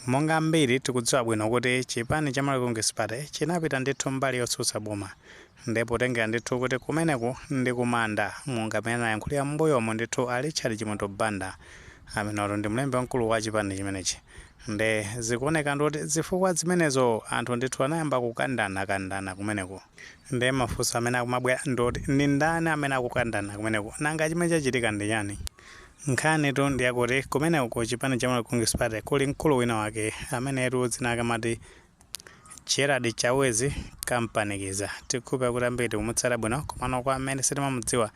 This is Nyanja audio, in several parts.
Monga ambiri tikudziwa bwino kuti chipani cha Malawi Congress Party chinapita ndithu mbali yotsutsa boma nde potengera ndithu kuti kumeneku ndi kumanda monga mmene anayankhulira mmbuyomu ndithu a Richard Chimwendo Banda amenewatu ndi mlembi wamkulu wa chipani chimenechi nde zikuoneka ndithu kuti zifukwa zimenezo anthu ndithu anayamba kukandana kandana kumeneku nde mafunso amene akumabwera ndi oti ndi ndani amene akukandana kumeneku nanga chimene chachitika ndi chani? Nkhanitu ndi yakuti kumeneko ku chipani cha Malawi Congress Party kuli mkulu wina wake amenetu dzina lake amati Gerald Chawezi Kampanikiza. Tikukhulupira kuti ambiri tikumutsata bwino komano kwa amene sitimamudziwa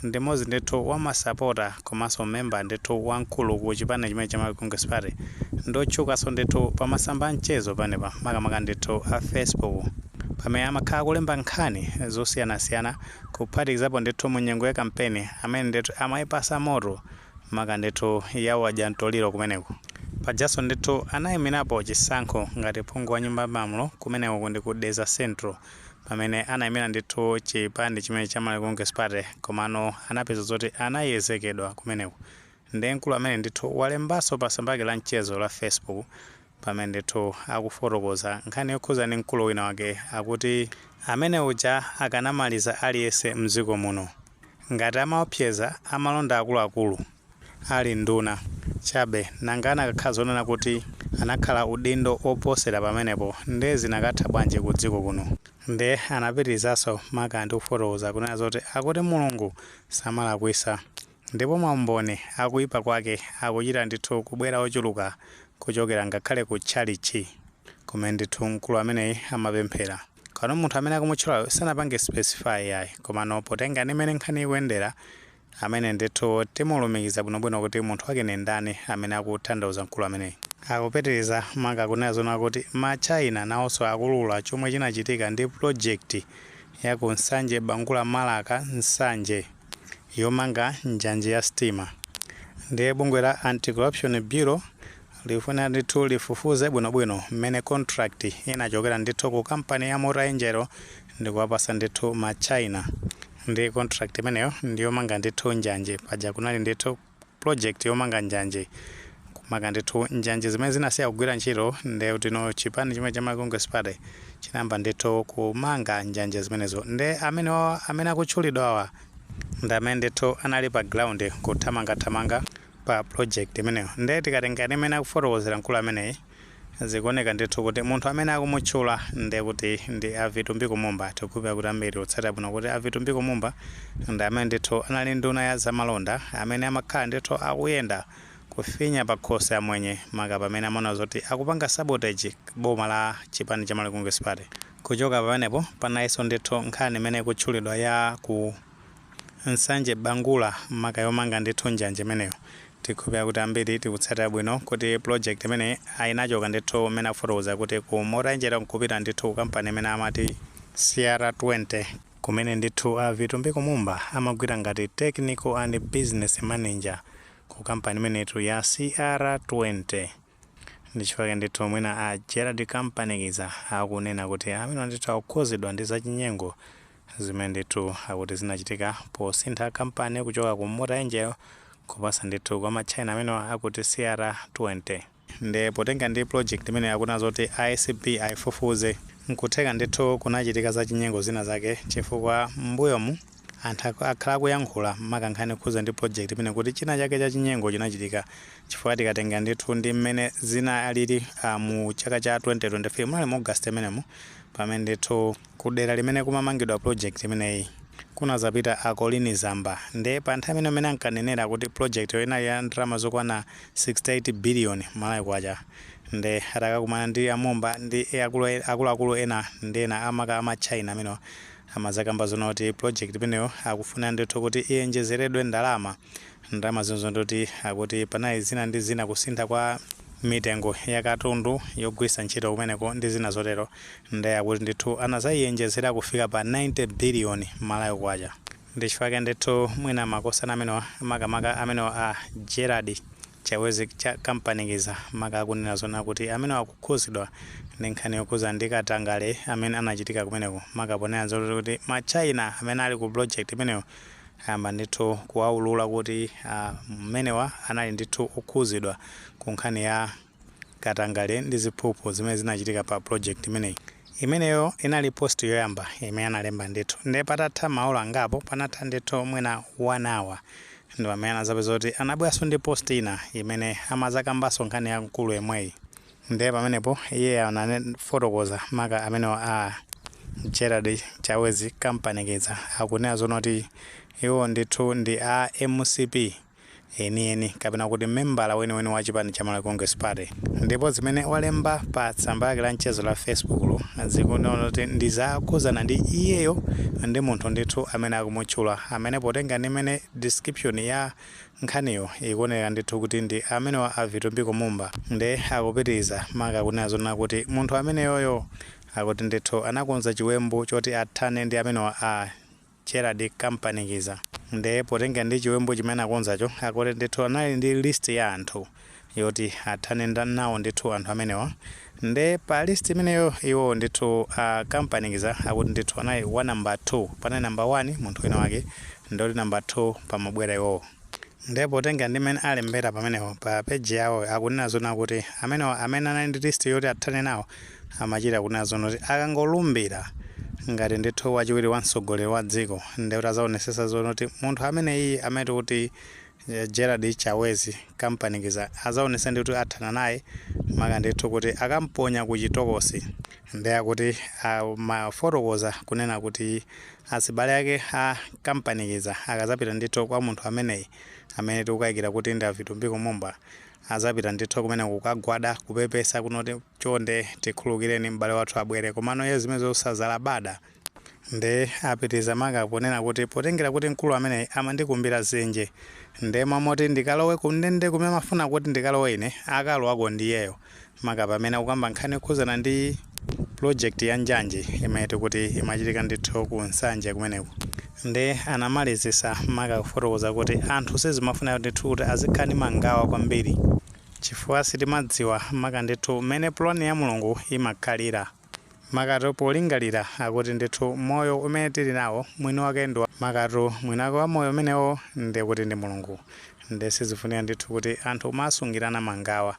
ndi mmodzi ndithu wa masapota komanso memba ndithu wamkulu ku chipani chimene cha Malawi Congress Party. Ndi otchukanso ndithu pa masamba a mchezo panepa makamaka ndithu a Facebook pamene amakhala akulemba nkhani zosiyanasiyana. kuphatikizapo ndithu mu nyengo ya kampeni amene ndithu amayipasa moto maka ndithu ya wadya mtoliro kumeneku. Pajaso ndithu anayimirapo chisankho ngati phungu wa nyumba ya malamulo kumeneko ndi ku Dedza Central pamene anayimira ndithu chipani chimene cha Malawi Congress Party komano anapeza zoti anayezekedwa kumeneko. Nde mkulu ameneyu ndithu walembanso pa tsamba lake la mchezo la Facebook Pamene ndithu akufotokoza nkhani yokhuza ndi mkulu wina wake akuti amene uja akanamaliza aliyense mdziko muno. Ngati amaopseza amalonda akuluakulu ali nduna chabe nanga anakakhala zonena kuti anakhala udindo oposera pamenepo nde zinakatha bwanji ku dziko kuno. Nde anapitirizanso maka ndi kufotokoza kunena zoti akuti Mulungu samalakwisa. Ndipo maumboni a kuipa kwake akuchita ndithu kubwera ochuluka kuchokera ngakhale ku tchalitchi, kumene ndithu mkulu ameneyi amapemphera. Komano munthu amene akumutchulayo sanapange specify iyayi, komano potenga ndi mmene nkhani ikuyendera, amene ndithu timulumikiza bwinobwino kuti munthu wake ndi ndani amene akutanthauza mkulu ameneyi. Akupitiriza maka kunena zonena kuti ma China nawonso akuulula chomwe chinachitika ndi project ya ku Nsanje Bangula Marka Nsanje. yomanga njanje ya sitima ndiye bungwe la anti corruption bureau likufunika ndithu lifufuze bwinobwino mmene contract inachokera ndithu ku kampani ya mota engil ndikuwapasa ndithu ma china ndi contract imeneyo ndiyomanga ndithu njanje paja kunali ndithu project yomanga njanje kumanga ndithu njanje zimene zinasiya kugwira ntchito nde utino chipani chimene cha Malawi Congress Party chinayamba ndithu kumanga njanje zimenezo nde amene wa- amene akutchulidwawa ndi amene ndithu anali pa ground kuthamangathamanga pa project imeneyo nde tikatenga ndi mmene akufotokozera mkulu ameneyi Zikuoneka ndithu kuti munthu amene akumutchula ndi kuti ndi a Vitumbiko Mumba. Tikukhulupirira kuti ambiri tikutsatira bwino kuti a Vitumbiko Mumba ndi amene ndithu anali nduna ya zamalonda amene amakhala ndithu akuyenda kufinya pakhosi amwenye maka pamene amaona zoti akupanga sabotage boma la chipani cha Malawi Congress Party. Kuchoka pamenepo panalinso ndithu nkhani imene ikutchulidwa ya ku. Nsanje Bangula maka yomanga ndithu njanje imeneyo tikhulupira kuti ambiri tikutsatira bwino kuti project imeneyi inachoka ndithu mmene akufotokoza kuti ku Mota-Engil nkupita ndithu ku kampani imene amati CR20, kumene ndithu a Vitumbiko Mumba amagwira ngati Technical and Business Manager ku kampani imeneyitu ya CR20. Ndi chifukwa chake ndithu mwina a Gerald Kampanikiza akunena kuti amenewa ndithu akukhuzidwa ndi zachinyengo zimene ndithu akuti zinachitika posintha kampani kuchoka ku Mota-Engil kupasa ndithu kwa ma China amenewa akuti CR20. Nde potenga ndi project imeneyi akunena zoti ACB aifufuze, nkutheka ndithu kunachitika zachinyengo zina zake chifukwa m'mbuyomu anthu akhala akuyankhula maka nkhani yokhuza ndi project imeneyi kuti china chake chachinyengo chinachitika chifukwa tikatenga ndithu ndi mmene zinalili uh, mu chaka cha 2023 munali mu august mmenemo pamene ndithu ku dera limene kumamangidwa project imeneyi kunazapita a Colleen Zamba nde pa nthawi imene amene ankanenera kuti project yo inali ya ndalama zokwana 68 billion malawi kwacha nde atakakumana ndi a Mumba ndi akulu- akuluakulu ena ndi ena maka ma China amenewa amazakamba zoona kuti project imeneyo akufuna ndithu kuti iyenjezeredwe ndalama Ndalama zimenezo ndikuti akuti panali zina ndi zina kusintha kwa mitengo ya katundu yogwiritsa ntchito kumeneko ndi zina zotero nde akuti ndithu anazaiyenjezera kufika pa 90 billion Malawi Kwacha. Ndi chifukwa chake ndithu mwina makosana amenewa makamaka amenewa a Gerald Chawezi Kampanikiza maka akunena zona kuti amenewa akukhuzidwa ndi nkhani yokhudzana ndi katangale amene anachitika kumeneko maka ponena zoti kuti ma China amene ali ku project imeneyo Ayamba ndithu kuwaulula kuti mmenewa anali ndithu okhuzidwa ku nkhani ya katangale ndi ziphuphu zimene zinachitika pa project imeneyi. Imeneyo inali post yoyamba imene analemba ndithu nde patatha maola angapo panatha ndithu mwina 1 hour ndipamene anazapeza kuti anabweranso ndi post ina imene amazakambanso nkhani ya mkulu yemweyi. Ndiye pamenepo iye anafotokoza maka amenewa a Gerald Chawezi Kampanikiza akunena zoona kuti iwo ndithu ndi a MCP enieni kapena kuti membala weniweni wa chipani cha Malawi Congress Party ndipo zimene walemba pa tsamba lake la mchezo la Facebook lo zikunena kuti ndi zakhudzana ndi iyeyo ndi munthu ndithu amene akumutchula amene potenga ndi mmene description ya Nkhaniyo ikuoneka ndithu kuti ndi amenewa a Vitumbiko Mumba nde akupitiliza maka kunena zonena kuti munthu ameneyoyo akuti ndithu anakonza chiwembu choti athane ndi amenewa a Gerald Kampanikiza nde potengera ndi chiwembu chimene anakonzacho akuti ndithu anali ndi list ya anthu yoti athane nawo ndithu anthu amenewa nde pa list imeneyo iwowo ndithu a kampanikiza akuti ndithu anali wa number 2 panali number 1 munthu wina wake ndoti number 2 pamabwera iwowo nde potengera ndi mmene alembera pamenepo pa page yawoyo akunena zonna kuti amenewa amene anali ndi list yoti athane nawo amachita kunena zonna kuti akangolumbira ngati ndithu wachiwiri wa mtsogoleri wa dziko nde kuti azaonesesa zonna kuti munthu ameneyiyi amene tikuti Gerald Chawezi kampanikiza azaonesa ndithu athana naye maka ndithu kuti akamponya ku chitokosi nde akuti amafotokoza kunena kuti azibale ake a kampanikiza akazapita ndithu kwa munthu ameneyi amene tikukaikira kuti ndi a Vitumbiko Mumba azapita ndithu kumeneko kukagwada kupepesa kunena kuti chonde tikhululukireni m'bale wathu abwere komano iye zimenezo sazalabada Nde apitiliza maka ponena kuti potengera kuti mkulu ameneyi amandikumbira dzenje nde mmalo moti ndikalowe ku ndende kumene amafuna kuti ndikalowe ine akalowako ndiyeyo maka pamene akukamba nkhani yokhudzana ndi project ya njanji imene tikuti imachitika ndithu ku Nsanje kumeneku. Nde anamalizisa maka kufotokoza kuti anthu sizimafunika ndithu kuti azikhala ndi mangawa kwambiri chifukwa sitimadziwa maka ndithu mmene plan ya Mulungu imakhalira. makatu polingalira akuti ndithu moyo umene tili nawo mwini wake ndi makatu mwini wake wa moyo umenewo ndiye kuti ndi mulungu ndiye sizifunika ndithu kuti anthu kumasungirana mangawa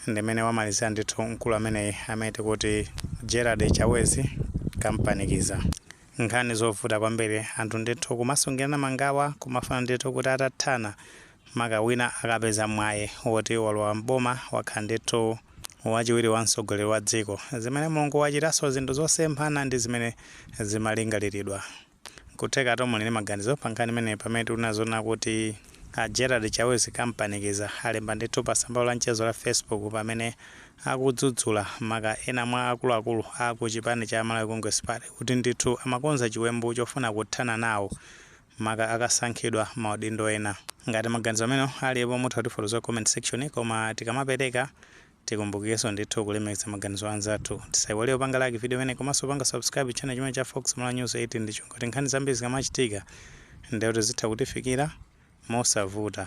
ndimene wamalizira ndithu mkulu ameneyi amene tikuti gerald chawezi kampanikiza nkhani zovuta kwambiri anthu ndithu kumasungirana mangawa kumafuna ndithu kuti atathana maka wina akapeza mwayi woti walowa m'boma wakhala ndithu wachiwiri wa mtsogoleri wa dziko, zimene Mulungu wachitaso zinthu zosemphana ndi zimene zimalingaliridwa. Nkuthekatu muli ndi maganizo pa nkhani imeneyi pamene tikunena zonna kuti a Gerald Chawezi Kampanikiza alemba ndithu pa tsamba lawo la mchezo la Facebook pamene akudzudzula maka ena mwa akuluakulu a ku chipani cha Malawi Congress Party kuti ndithu amakonza chiwembu chofuna kuthana nawo maka akasankhidwa maudindo ena. Ngati maganizo amenewo alipo mutha kutifotokozera mu comment section koma tikamapereka tikumbukireso ndithu kulemekeza maganizo anzathu. Tisaiwale kupanga like video imeneyi komaso kupanga subscribe channel chimene cha Fox Malawi News 18 ndi cholinga kuti nkhani zambiri zikamachitika ndekuti zizitha kutifikira mosavuta.